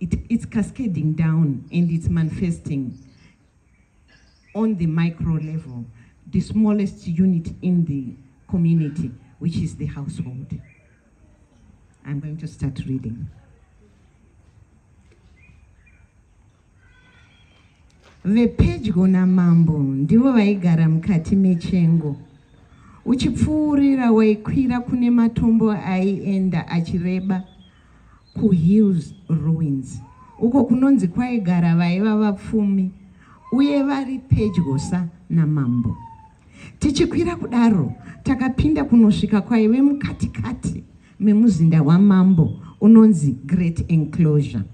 It, it's cascading down and it's manifesting on the micro level, the smallest unit in the community, which is the household. I'm going to start reading. vepedyo namambo ndivo vaigara mukati mechengo uchipfuurira waikwira kune matombo aienda achireba kuHills Ruins uko kunonzi kwaigara vaiva vapfumi uye vari pedyosa namambo. Tichikwira kudaro, takapinda kunosvika kwaive mukatikati memuzinda wamambo unonzi Great Enclosure.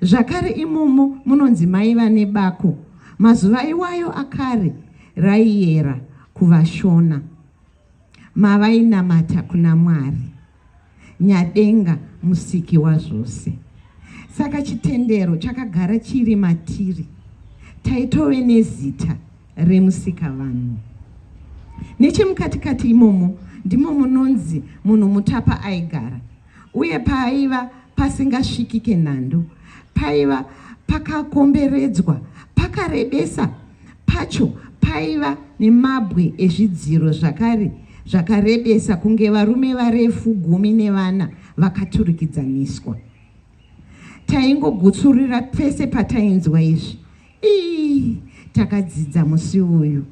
Zvakare imomo munonzi maiva nebako mazuva iwayo akare raiyera kuvashona. mavainamata kuna Mwari nyadenga musiki wazvose. Saka chitendero chakagara chiri matiri, taitove nezita remusika vanhu. Nechemukatikati imomo ndimo munonzi munhu mutapa aigara. Uye paaiva pasingasvikike nhandu, paiva pakakomberedzwa, pakarebesa pacho paiva nemabwe ezvidziro zvakare zvakarebesa kunge varume varefu gumi nevana vakaturikidzaniswa. Taingogutsurira pese patainzwa izvi, ii takadzidza musi uyu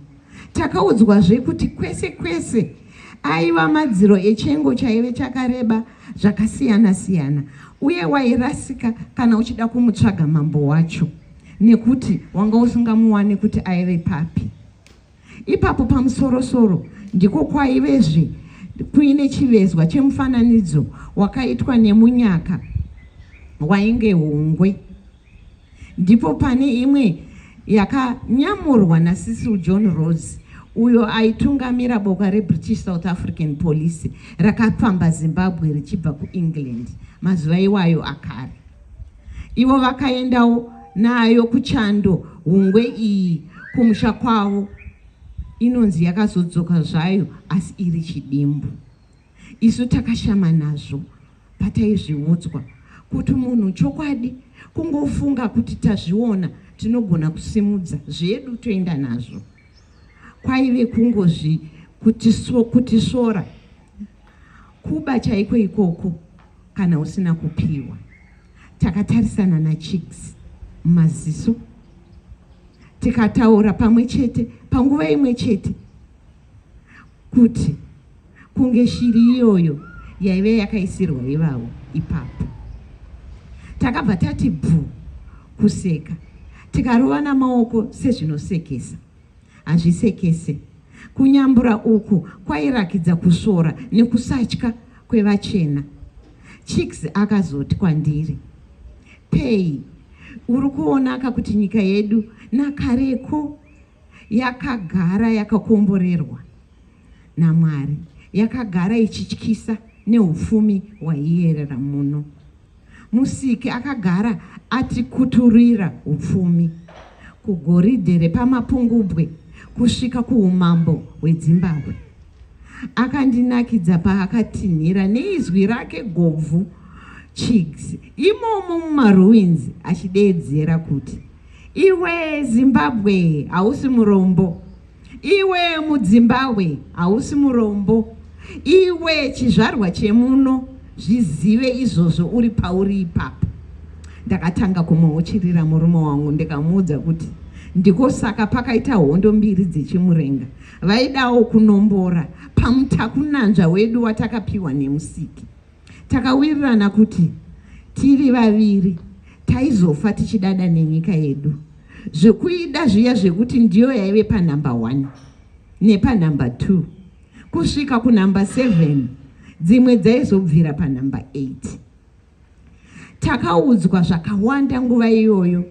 takaudzwazve kuti kwese kwese aiva madziro echengo chaive chakareba zvakasiyana siyana uye wairasika kana uchida kumutsvaga mambo wacho nekuti wanga usingamuwane kuti aive papi Ipapo pamusorosoro ndiko kwaivezve kuine chivezwa chemufananidzo wakaitwa nemunyaka wainge hungwe. Ndipo pane imwe yakanyamurwa naSisil John Rose uyo aitungamira boka reBritish South African Police rakapfamba Zimbabwe richibva kuEngland mazuva iwayo akare. Ivo vakaendawo nayo kuchando hungwe iyi kumusha kwavo inonzi yakazodzoka zvayo asi iri chidimbu isu takashama nazvo pataizviudzwa kuti munhu chokwadi kungofunga kuti tazviona tinogona kusimudza zvedu toenda nazvo kwaive kungozvi kutisvora kuba chaiko ikoko kana usina kupiwa takatarisana nachigs maziso tikataura pamwe chete panguva imwe chete kuti kunge shiri iyoyo yaive yakaisirwa ivavo ipapo. Takabva tati bvu kuseka tikarovana maoko sezvinosekesa. Hazvisekese. Kunyambura uku kwairakidza kusvora nekusatya kwevachena. Chicks akazoti kwandiri, Pei, uri kuonaka kuti nyika yedu nakareko yakagara yakakomborerwa naMwari, yakagara ichityisa neupfumi hwaiyerera muno. Musiki akagara atikuturira upfumi kugoridhe repamapungubwe kusvika kuumambo hwedzimbabwe. Akandinakidza paakatinhira neizwi rake gobvu chigs imomo mumaruins achideedzera kuti Iwe Zimbabwe hausi murombo. Iwe mudzimbabwe hausi murombo. Iwe chizvarwa chemuno zvizive izvozvo uri pauri ipapo. Ndakatanga kumuuchirira murume wangu ndikamuudza kuti ndiko saka pakaita hondo mbiri dzechimurenga vaidawo kunombora pamutakunanzva wedu watakapiwa nemusiki. Takawirirana kuti tiri vaviri taizofa tichidada nenyika yedu zvekuida zviya zvekuti ndiyo yaive panumber one nepanumber two kusvika kunumber seven dzimwe dzaizobvira panumber eight Takaudzwa zvakawanda nguva iyoyo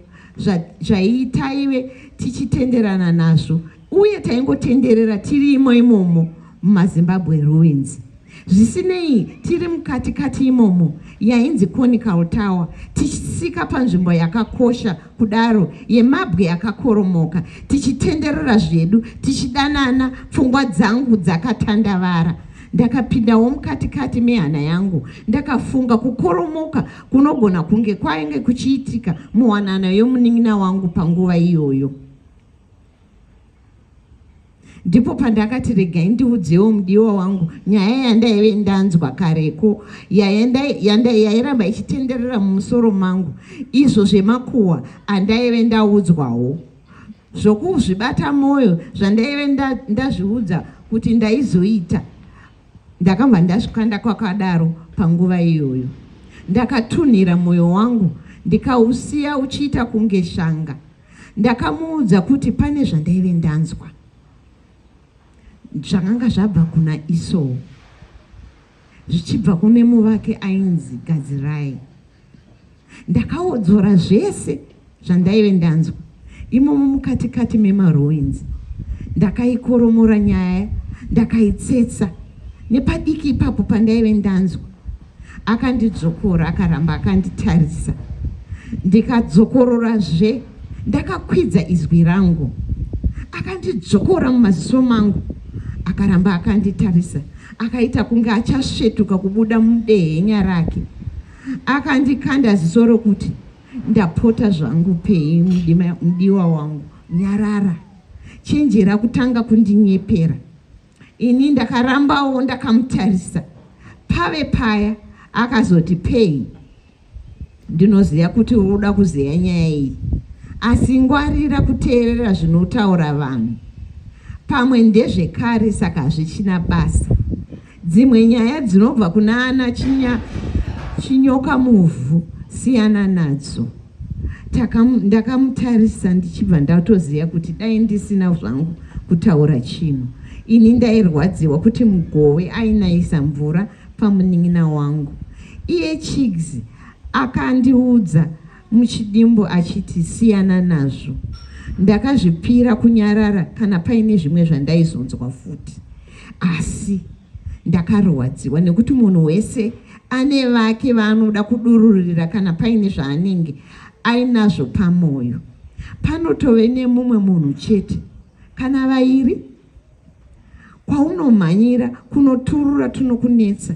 zvaitaive tichitenderana nazvo uye taingotenderera tiri imo imomo mumazimbabwe ruins zvisinei tiri mukati kati imomo yainzi conical tower tichisika panzvimbo yakakosha kudaro yemabwe yakakoromoka tichitenderera zvedu tichidanana pfungwa dzangu dzakatandavara Ndakapindawo mukati kati mehana yangu ndakafunga kukoromoka kunogona kunge kwainge kuchiitika muwanana yomunin'ina wangu panguva iyoyo. Ndipo pandakati regai ndiudzewo mudiwa wangu nyaya yandaive ndanzwa kareko yairamba ichitenderera mumusoro mangu izvo zvemakuhwa andaive ndaudzwawo. zvokuzvibata mwoyo zvandaive ndazviudza nda kuti ndaizoita ndakabva ndazvikanda kwakadaro panguva iyoyo ndakatunhira mwoyo wangu ndikausiya uchiita kunge shanga ndakamuudza kuti pane zvandaive ndanzwa zvakanga zvabva kuna isoo zvichibva kune muvaki ainzi Gadzirai. Ndakaodzora zvese zvandaive ndanzwa imomo mukatikati memaruins. Ndakaikoromora nyaya ndakaitsetsa nepadiki ipapo pandaive ndanzwa akandidzvokora akaramba akanditarisa ndikadzokororazve ndakakwidza izwi rangu akandidzvokora mumaziso mangu akaramba akanditarisa Akaita kunge achasvetuka kubuda mudehenya rake. Akandikanda ziso rokuti, ndapota zvangu Pei mudiwa wangu, nyarara. Chenjera kutanga kundinyepera. Ini ndakarambawo ndakamutarisa. Pave paya akazoti Pei Ndinoziva kuti uri kuda kuzeya nyaya iyi, asi ngwarira kuteerera zvinotaura vanhu. Pamwe ndezvekare saka hazvichina basa. Dzimwe nyaya dzinobva kuna ana chinya, chinyoka muvhu, siyana nadzo. Ndakamutarisa ndichibva ndatoziva kuti dai ndisina zvangu kutaura chinhu. Ini ndairwadziwa kuti mugove ainayisa mvura. pamunin'ina wangu iye chigs akandiudza muchidimbu achiti siyana nazvo ndakazvipira kunyarara kana paine zvimwe zvandaizonzwa futi asi ndakarwadziwa nekuti munhu wese ane vake vaanoda kudururira kana paine zvaanenge ainazvo pamwoyo panotove nemumwe munhu chete kana vairi kwaunomhanyira kunoturura tunokunetsa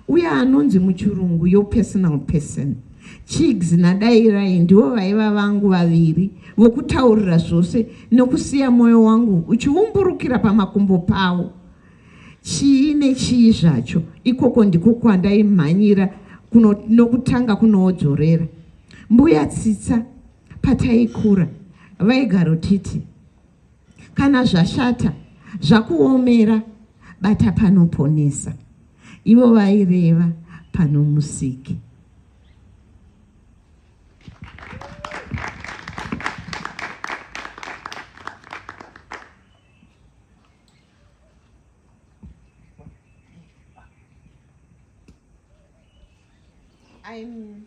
uye anonzi muchirungu your personal person chigs nadairai ndivo vaiva vangu vaviri vokutaurira zvose nokusiya mwoyo wangu uchiumburukira pamakumbo pavo chii nechii zvacho ikoko ndiko kwandaimhanyira kuno, nokutanga kunoodzorera mbuya tsitsa pataikura vaigarotiti Kana zvashata zvakuomera bata panoponesa, ivo vaireva panomusiki. I'm